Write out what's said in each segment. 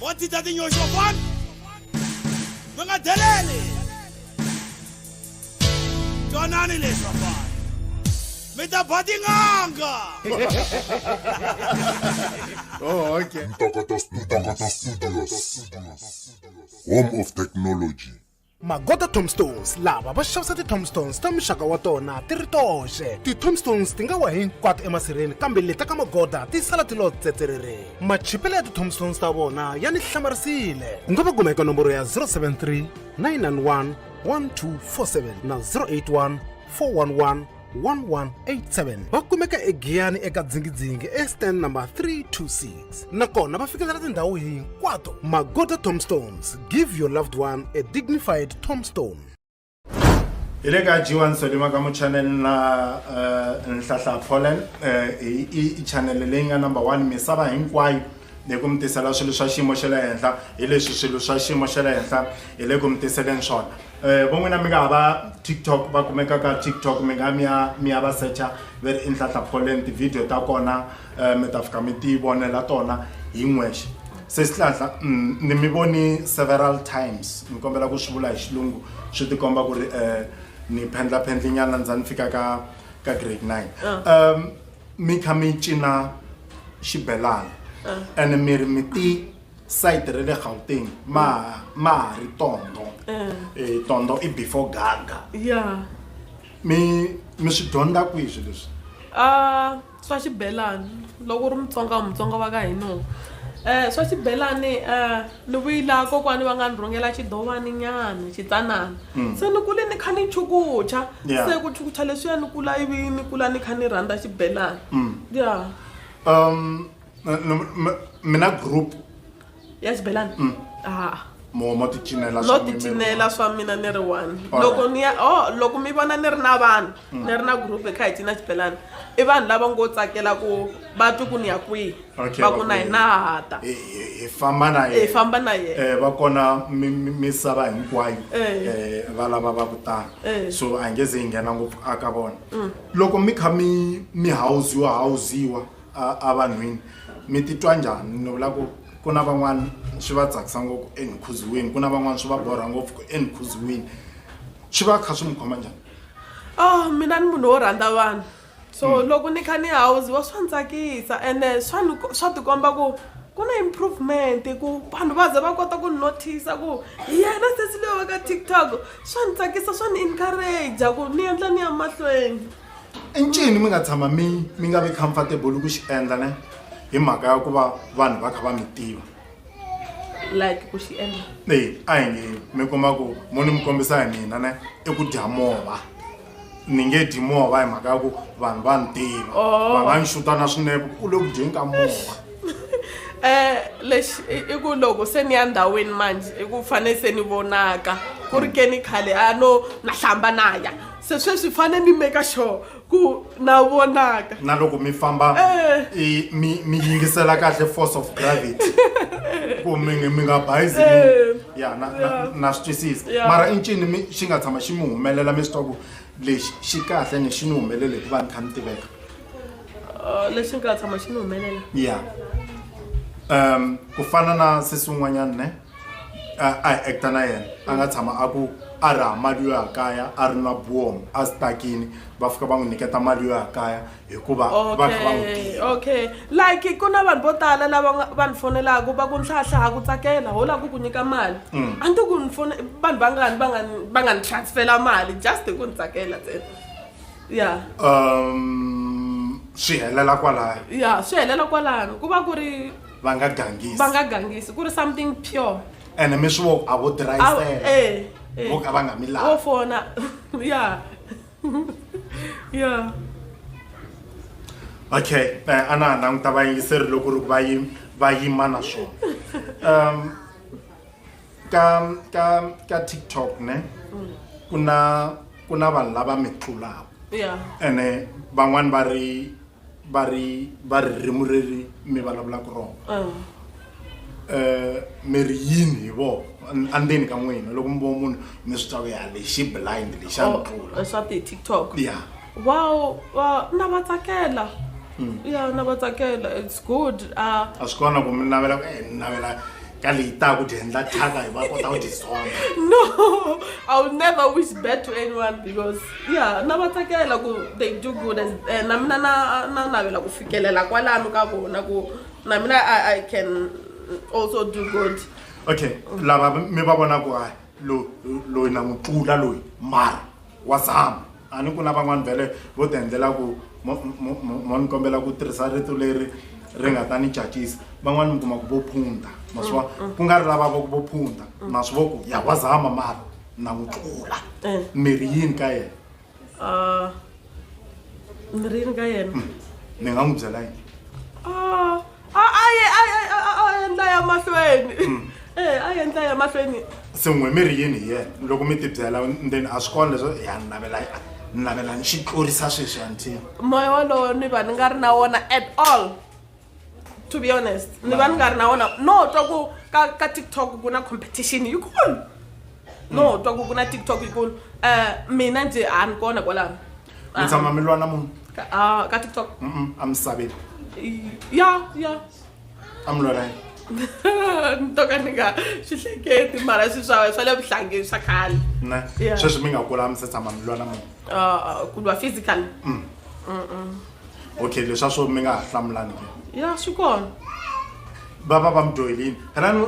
mo ti ta tinyoxo kwani mi nga deleli twanani leswi vafana mi ta ba tin'anga oh, okay. Ntokoto Studios, home of technology. magota tombstones lava va xavisa ti-tombstones ta muxaka wa tona ti ri toxe ti-tombstones ti nga wa hinkwato emasirheni kambe leta ka magoda ti sala ti lo tsetserere machipelo ya ti-tombstones ta vona ya ni hlamarisile u nga va kuma eka nomboro ya 073 991 1247 na 081 411 1187 va kumeka egiyani eka dzingidzingi estand number 326 nakona va fikelela tindhawu hinkwato magoda tombstones give your loved one a dignified tombstone hi le ka g1 sodima ka muchanele na uh, nhlahla polen uh, eh, i chanele leyi nga number one misava hinkwayo ni ku mi tisela swilo swa xiyimo xa le henhla hi leswi swilo swa xiyimo xa le henhla hi le ku mi tiseleni swona um vo n'wina mi nga ha va tiktok va kumeka ka tiktok mi nga mi ya mi ya va secha va ri i nhlahla pholeni tivhidiyo ta kona um mi ta fika mi ti vonela tona hi n'wexe se sihlahla mm, ni mi voni several times ni kombela ku swi vula hi xilungu swi tikomba ku ri um ni phendlaphendlinyana ndza ni fika ka ka grade nine ah. um mi kha mi cina xibelani ene mi ri mi ti sayiti ra le gauteng ma ma ha ri tondo um tondo i before gaga ya mi mi swi dyondza kwihi swi leswi a swa xibelani loko u ri mutsonga mutsonga va ka hino um swa xibelani um Ni vuyila kokwani va nga ni rhungela xidovani nyana xitsanana se ni kule ni kha ni chukucha Yeah. se ku chukucha leswiya ni kula ivi ni kula ni kha ni rhandza xibelani ya um n- n- m- mina group ya xibelani a mo mo ti cinela no swa n'wina. ticinela swa mina ni ri one Alright. loko ni ya o loko mi vona ni ri na vanhu ni ri na group hi kha hi cina xibelani i vanhu lava ngo tsakela ku va twi ku ni ya kwihi okay, va ku na hina ha ta hi famba na yena hi famba na yena eh va kona misava hinkwayo eh. eh va lava va ku tana eh. so a nge ze yi nghena ngopfu a ka vona mm. loko mi kha mi mi hawuziwa hawuziwa a vanhwini mi titwa njhani ni vula ku ku na van'wana swi va tsakisa ngopfu enikhuziweni ku na van'wana swi va borha ngopfu ku enikhuziweni swi va kha swi mi khoma njhani oh mina ni munhu wo rhandza vanhu so hmm. loko ni kha ni hawuziwa swa ni tsakisa ene swa ni swa tikomba ku ku na improvement ku vanhu va ze va kota ku notice ku hi yena sesi leyi va ka tiktok swa ni tsakisa swa ni encourage ku ni endla ni ya mahlweni i ncini mi nga tshama mi mi nga vi comfortable ku xi endla ne hi mhaka ya ku va vanhu va kha va mi tiva like ku xi endla e a hi nge mi kuma ku mo ni mi kombisa hi mina ne i ku dya mova ni nge dyi mova hi mhaka ya ku vanhu va ni tiva Oh. va nga ni xuta na swinepe u le ku dyeni ka mova um lexi i i ku loko se ni ya ndhawini manjhe i ku fane se ni vonaka ku ri ke ni khale a no na hlamba na ya se sweswi fane ni make sure ku na vonaka na loko mi famba Eh. i- mi mi yingisela kahle force of gravity ku mi nge- mi nga bayizi mi- Eh. ya na na Yeah. na swi twisisa Yeah. mara i ncini mi xi nga tshama xi mi humelela mi swi twa ku lexi xi kahle ni xi ni humelele hikuva ni kha ni tiveka Uh, lexi nga tshama xi ni humelela ya um ku fana na sesi un'wanyana ne a a hi acta na yena a nga tshama a ku a raha mali yo ya kaya a ri na buom a sitakini va fika va n'wi nyiketa mali yo ya kaya hikuva va kha va n'wi tiva okay like ku na vanhu vo tala lava nga- va ni fonelaka va ku nhlahla ha ku tsakela ho lava ku ku nyika mali Mm. a ni to ku ni fone vanhu vangani va nga ni- va nga ni transfela mali just hi ku ni tsakela ntsena ya um swi helela kwalayo ya swi helela kwalano ku va ku ri va nga gangisi va nga gangisi ku ri something pure ene mi swi vo a vo Awu, dirayisela eh, eh. vo ka va nga mi lavi wo fona ya yeah okay eh, a na ha languta vayingiseri loko ri va yi va yima na swona um ka ka ka tiktok ne ku na ku na vanhu lava mi tlulaka ene van'wani va ri va ri va ririmi reri mi vulavulaka rona um mi ri yini hi vona andzeni ka n'wina loko mi vona munhu mi swi twa ya lexi blind lexi a mi tlula oh, swa ti-tiktok ya wow na va tsakela hmm. ya na va tsakela it's good ah. a swi kona ku mi navela ku eh, ni navela ka leyi ta ku dyi endla thyaka hi va kota ku dyi zonda no i will never wish bad to anyone because ya na va tsakela ku they do good as eh, na mina na na navela ku fikelela kwalano ka vona ku na mina i i can also do good okay lava mi va vona ku hayi lo- loyi na n'wi tlula loyi mara wa zama A ni ku na van'wana vhele vo ti endlela ku mo mo mo mo ni kombela ku tirhisa rito leri ri nga ta ni cacisa van'wana mi kuma ku vo phunta ma swi vona ku nga ri lava va ku vo phunta ma swi vo ku ya wa zama mara na n'wi tlula mirhi yini ka yena Ah, mirhi yini ka yena ni nga n'wi byela yini Ah, a a ye a ye- a- a- a endla ya mahlweni e a endla ya mahlweni sin'we mi ri yini hi yena loko mi tibyela then a swi kona leswo ya ni navela ni navela ni xi tlurisa sweswi antini moya wolowo ni va ni nga ri na wona at all to be honest ni va ni nga ri na wona no twa ku ka ka tiktok ku na competition yikulu no twa ku ku na tiktok yikulu um mina ndzi a ni kona kwalano mi tshama mi lwana munhu Ah, ka tiktok Mm-mm, a mi saveli ya ya a mi lwana yini ni to ka ni nga swi hleketi mara swi swa swa le vuhlangeni swa khale ne Yeah. sweswi mi nga kula mi se tshama mi lwana munhu Ah, ku lwa physical okay leswa swo mi nga ha hlamulani ke ya swi kona va va va mi dyohelini helani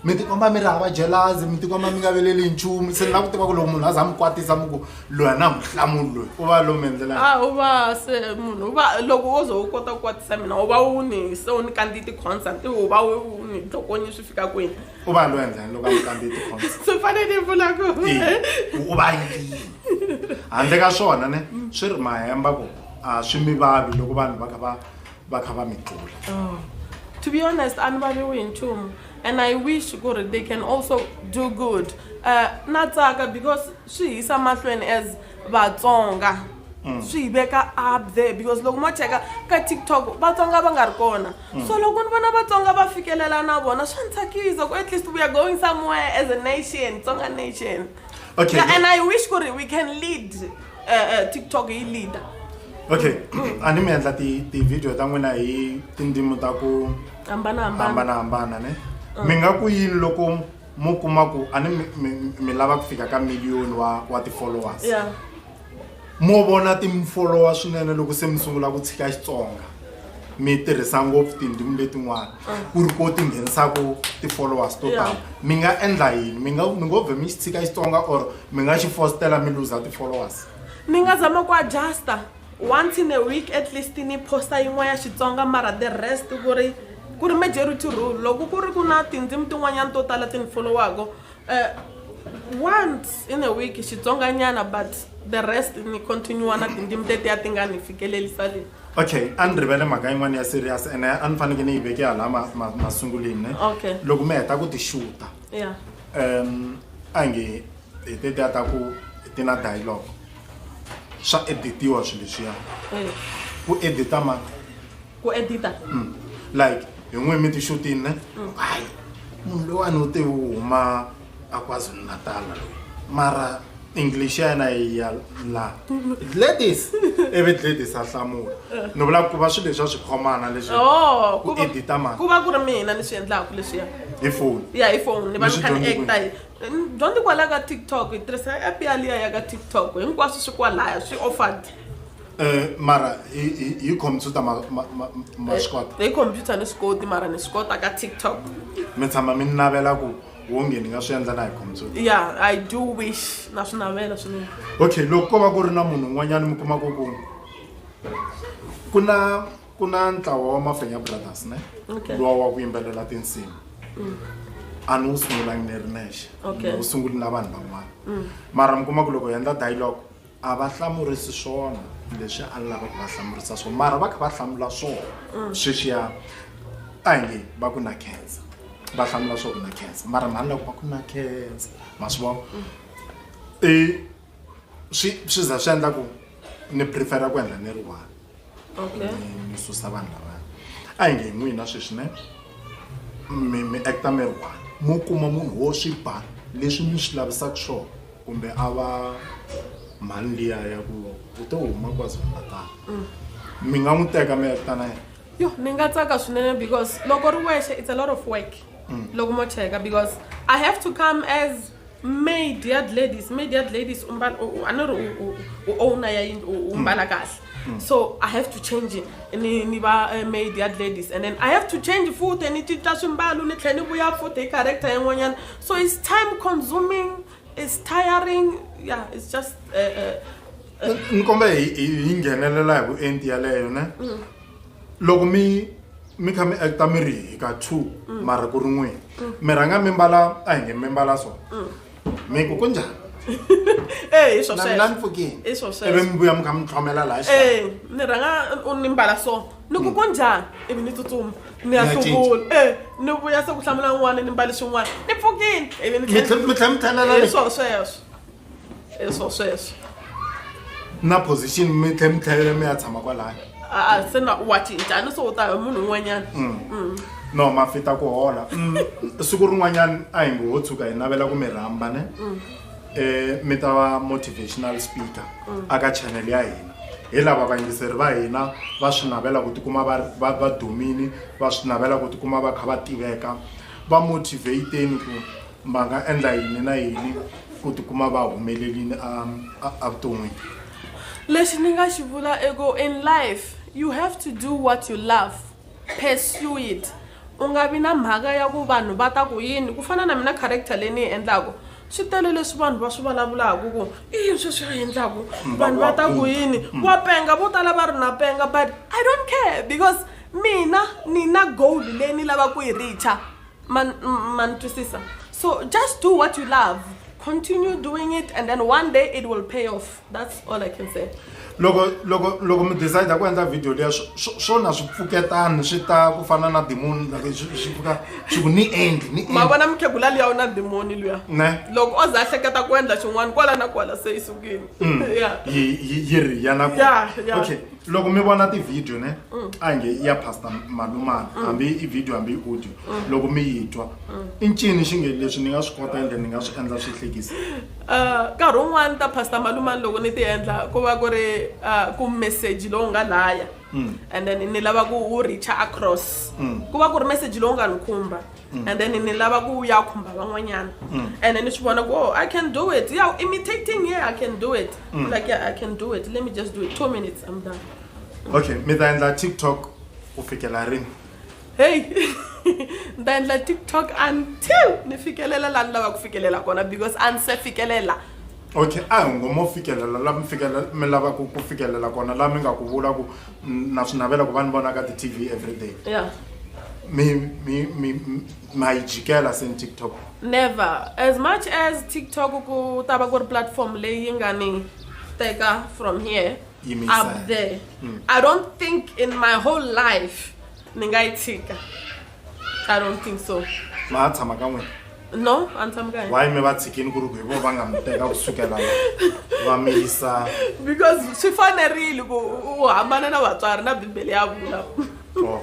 mi tikomba mi ri hava jelazi mi tikomba mi nga veleli nchumu se ni lava ku tiva ku loko munhu a za mi kwatisa mi ku loyi a na muhlamulo loyi u va lowu mi endlela a u va se munhu u va loko wo ze u kota ku kwatisa mina u va u ni se u ni kandziyi ti-concert u va u ni dlokonyi swi fika kwini u va loyi endlani loko a mi kandziyi ti-concert swi fanele vula ku u va yini handle ka swona ne swi ri mahemba ku a swi mi vavi loko vanhu va kha va va kha va mi tlula oh. to be honest a ni valiwi hi nchumu and i wish ku ri they can also do good uh, na tsaka because swi hisa mahlweni as vatsonga mm. swi hi veka up there because loko mo cheka ka tiktok vatsonga va nga ri kona mm. so loko ni vona vatsonga va fikelela na vona swa ni tsakisa ku at least we are going somewhere as a nation tsonga nation okay. yeah, and i wish ku ri we can lead eh, eh, tiktok yi leader okay a ni mi endla ti-video ta n'wina hi tindzimi ta ku hambanahambana ne ah. mi nga ku yini loko mu kuma ku a ni mi lava ku fika ka million wa wa ti-followers mo vona ti-follower swinene loko se mi sungula ku tshika xitsonga mi tirhisa ngopfu tindzimi letin'wana ku ri ko ti nghenisaka ti-followers to tala mi nga endla yini mi nga mi ngo vhe mi xi tshika xitsonga or mi nga xi fostela mi luza ti-followers mi nga zama ku adjusta once in a week at least ni posta yin'wana ya xitsonga mara the rest ku ri ku ri majority rule loko ku ri ku na tindzimi tin'wanyana to tala ti ni followaka uh, once in a week xitsonganyana but the rest ni continua na tindzimi tetiya ti nga ni fikelelisa leyi okay a ni rivele mhaka yin'wana ya serious ene a ni faneke ni yi veke hala masungulini ne okay loko mi heta ku ti xuta yeah. um a nge hi tetiya ta ku ti na dialogue swa editiwa swilo leswiya ku edita mani ku edita mm. like hi n'wi mi tixutini ne mm. hayi munhu loyiwani u te u huma a kwazulu natala loyi mara english ya yena ya la ladies ivi ladies a hlamula ni vula ku va swilo leswa swi khomana leswi oh, ku edita mali ku va ku ri mina ni swi endlaku leswiya hi foni ya hi foni ni va ni kha ni acta dyondzi kwalaya ka tiktok hi tirhisa app yaliya ya ka tiktok hinkwaswo swi kwalaya swi offered Eh, mara hi computer maswikota eh, hi computer ni swi koti mara ni swi kota ka tiktok mi tshama mi navela ku wonge ni nga swi endla na hi computer ya i do wish na swi navela swinene okay loko ko va ku ri na munhu un'wanyana mi kuma ku ku ku na ku na ntlawa wa mafenya brothers ne lowa wa ku yimbelela tinsimu mm. a ni wu sungulangi ni ri nexe ni wu sunguli na vanhu van'wana mm. mara mi kuma ku loko hi endla dialogue a va hlamurisi swona leswi a ni lava ku va hlamurisa swona mara va kha va hlamula swona mm. sweswiya a hi nge va ku na khensa va hlamula swo ku na khensa mara mhani loko va ku na khensa ma swi vona mm. i swi swi za swi endla ku ni prefera ku endla ni ri one okay. mi susa vanhu lavana a hi nge hi n'wina sweswi ne mi mi acta mi ri one mo kuma munhu wo swi ba leswi mi swi lavisaka swona kumbe a va mhani liya ya ku u to huma kwazulu-natal mm. mi nga n'wi teka mi acta na yena yo ni nga tsaka swinene because loko ri wexe it's a lot of work mm. loko mo cheka because i have to come as maid ya ladies maid ya ladies u mbala u- u- a ni ri u- u- u owner ya yindlu u- u mbala kahle so i have to change ni ni va eh, maid ya ladies and then i have to change futhi ni cinca swimbalo ni tlhela ni vuya futhi hi character yin'wanyana so it's time consuming it's tiring yeah it's just uh, uh, ni kombela hi hi- hi nghenelela hi vuenti yaleyo ne loko mi mi kha mi acta mi ri hi ka two mara ku ri n'wini mi rhanga mi mbala a hi nge mi mbala so mi ku ku njhani Eh, hi swo Na- sweswo. na ni pfukile. Hi swo sweswo. ivi mi vuya mi kha mi tlhomela laha xikarhi. Eh, ni rhanga u- ni mbala so ni ku ku njhani ivi ni tsutsuma ni ya Na cinca. hluvula e ni vuya se ku hlamula n'wana ni mbali swin'wana ni pfukile ivi ni Mi tlhe- mi tlhe mi tlhelela le. Hi swo sweswo e swo sweswo na position mi tlhe mi tlhelela mi ya tshama kwalaya a se na wa cincana so u ta hi munhu un'wanyana mm. mm. no mafita ku hola mm. siku rin'wanyana a hi ngo ho tshuka hi navela ku mi rhamba ne um mi ta va motivational speaker aka channel ya hina hi lava vayingiseri va hina va swi navela ku tikuma va dumini va swi navela ku tikuma va kha va tiveka va motivateni ku va nga endla yini na yini ku tikuma va humelelini evuton'wini lexi ni nga xi vula i ku in life you have to do what you love pursue it u nga vi na mhaka ya ku vanhu va ta ku yini ku fana na mina character leyi ni yi endlaku swi tele leswi vanhu va swi vulavulaku ku i yini sweswi a endlaku vanhu va ta ku yini wa penga vo tala va ri na penga but i don't care because mina ni na goal leyi ni lava ku yi richa man, man twisisa so just do what you love continue doing it and then one day it will pay off that's all i can say loko loko loko mi decide ku endla video leya swona swi pfuketani swi ta ku fana na demoni like swi pfuka swi ku ni endli ni ma vona mukhegula liya u na demoni luya ne loko o za a hleketa ku endla xin'wana kwala na kwala se yi sukile mm. yi ri ya na okay loko mi vona tivhidiyo ne mm. a nge ya pastor malumana mm. hambi i vhidiyo hambi i audio mm. loko mi yi twa i ncini xi nge leswi ni nga swi kota ende ni nga swi endla swi hlekisa uh, nkarhi wun'wani ta pastor malumani loko ni ti endla ku va ku ri uh, ku message lowu nga laya and then ni lava ku wu reacha across ku va ku ri message lowu nga ni khumba Mm. and then ni lava ku ya khumba van'wanyana mm. and ni swi vona ku oh, i can do it ya imitating yeah i can do it mm. like yeah, i can do it let me just do it two minutes i'm done okay mi ta endla tiktok u fikela rini hey ni ta endla tiktok until ni fikelela laha ni lava ku fikelela kona because a ni se fikelela Okay, a hi ngo mo fikelela la mi fikelela mi lava ku ku fikelela kona la mi nga ku vula ku mm, na swi navela ku va ni vona ka ti-tv everyday yeah mi mi mi mi- ma yi jikela seni tiktok never as much as tiktok ku ta va ku ri platform leyi nga ni teka from here Yi mi yisa up henhla. there i don't think in my whole life ni nga yi tshika i don't think so ma a tshama ka n'wina no a ni tshami kaye why mi va tshikini ku ri ku hi vo va nga mi teka ku sukela va mi yisa because swi fanerile ku u hambana na vatswari na bibele ya vula oh,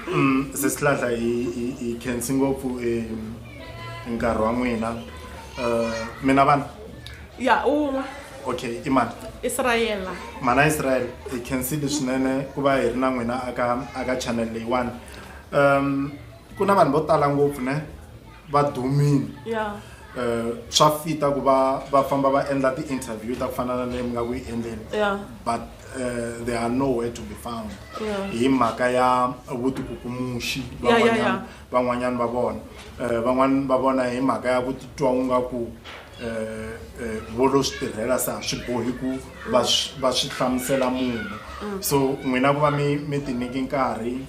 mm, se sihlahla hi khensi ngopfu nkarhi wa n'wina um mina vana ya un'we okay i mani israyela mana israel hi khensile swinene ku va hi ri na n'wina aka aka channel leyiwani um ku na vanhu vo tala ngopfu ne va dumile ya um swa fita ku va va famba va endla ti-interview ta ku fana na leyi mi nga ku yi endleni ya but uh, they are nowhere to be found Yeah. hi mhaka ya vutikukumuxi Yeah, yeah, van'wanyana yeah. van'wanyana va vona um van'wani va vona hi mhaka ya ku titwa u nga ku um vo lo swi tirhela se a swi bohi ku va va swi hlamusela munhu mm. so n'wina ku va mi mi ti nyiki nkarhi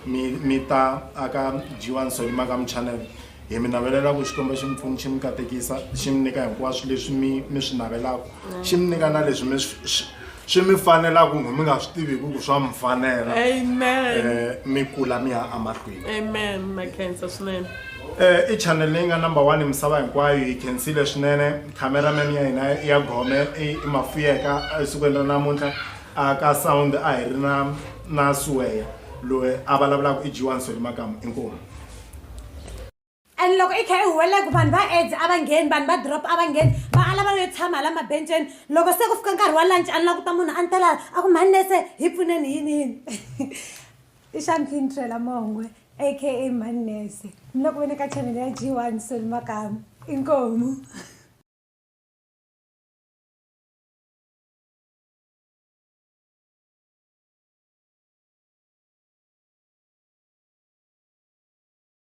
mi mi ta aka jiwani so yima ka muchannel hi mi navelela ku xikomba xi mi pfuni xi mi katekisa xi mi nyika hinkwaswo leswi mi mi swi navelaka xi mi nyika na leswi mi swi mi fanela kumbe mi nga swi tiviki ku swa mi fanela amen eh, mi kula mi ya amahlweni amen makhensa swinene Eh, i channel leyi nga number one misava hinkwayo yi khensile swinene cameraman ya hina ya gome i i mafuyeka esikwini ra namuntlha a ka sound a hi ri na na suweya loyi a vulavulaka i g1 soli makamu inkomu and loko i kha i huwelela ku vanhu va aids a va ngheni vanhu va drop a va ngheni va ala va yo tshama la mabenceni loko se ku fika nkarhi wa lunch a ni la ku ta munhu a ni tela a ku mhani nese hi pfuneni yini yini i xamphintrela mongwe aka mhani nese ni loko vene ka chanele ya g one soli makamu inkomu